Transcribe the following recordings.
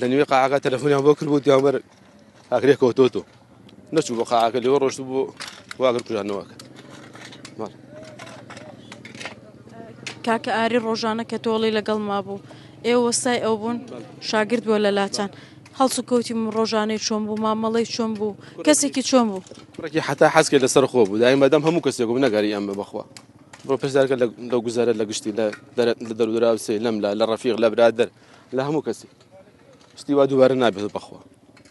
لە نوێ قاعەکە تەلەفۆنیان بۆ کرد بۆ دیامەر ئاگرێک کەوتۆتۆ نەچوو بۆ قاعەکە لەوە ڕۆشت بۆ واگر کوژانەوەکە کاکە ئاری ڕۆژانە کە تۆڵی لەگەڵ ما بوو ئێوە وەستای ئەو بوون شاگرد بووە لە لاچان هەڵسو کەوتیم ڕۆژانەی چۆن بوو مامەڵی چۆن بوو کەسێکی چۆن بوو ڕێکی حتا حەزکە لەسەر خۆ بوو دای مادەم هەموو کەسێک بوو نەگەری ئەمە بخوا بۆ پێشدارکە لە گوزارە لە گشتی لە دەرودراوسێ لەم لە لە ڕفیق لە برادر لە هەموو کەسێک شتی وا دووبارە نابێت بەخوا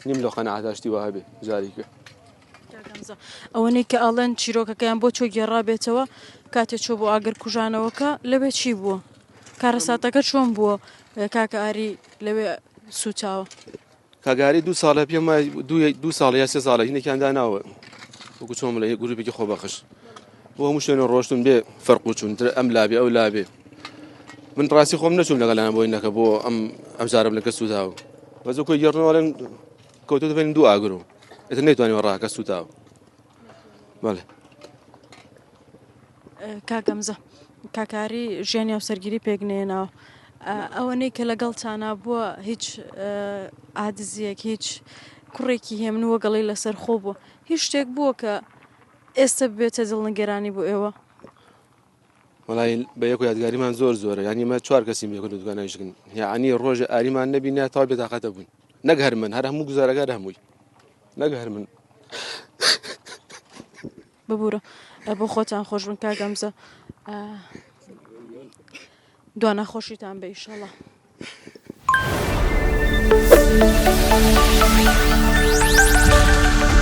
نیم لۆ قەنەعاتا شتی واه بێ جاریکە ئەوەنەی کە ئاڵێن چیرۆکەکەیان بۆ چۆ گێڕابێتەوە کاتێ چۆ بۆ ئاگر کوژانەوەکە لەوێ چی بووە کارەساتەکە چۆن بووە کاکە ئاری لەوێ سوچاوە کاگەهەرەی دوو ساڵە پێم دوو ساڵ یا سێ ساڵە هینێکیان داناوە وەکو چۆن لە گروپێکی خۆبەخش بۆ هەموو شوێنە ڕۆشتن بێ فەرق و چون تر ئەم لابێ ئەو لابێ من ڕاستی خۆم نەچوم لەگەڵیان بۆی نەکە بۆ ئەم ئەم جارم لەکە سووداو بەزۆ کۆی گەڕنەوەڵێن کەوتو دەبێن دوو ئاگرو ئەتر نەیتوانانی ڕاکە سوتاو کاک هەمزە کاکاری ژیانی هاوسەرگیری پێک نێناوە ئەوەنەی کە لەگەڵ چانا بووە هیچ ئادزیەک هیچ کوڕێکی هێمن وەگەڵی لەسەر خۆ بووە هیچ شتێک بووە کە ئێستا بێتە دڵ نگەرانی بۆ ئێوە وەڵای بە یەک و یادگاریمان زۆر زۆرە یانی مە چوار کەسیم بێکن و دوگانایشکن یعنی ڕۆژە ئاریمان نەبی نە تا بێتاقەتە بوون نەک هەر من هەر هەموو گوزارەکە هەمووی نەک هەر من ببوورە بۆ خۆتان خۆش بن کا گەمزە دوانە خۆشیتان بە ئیشەڵە. Thank you.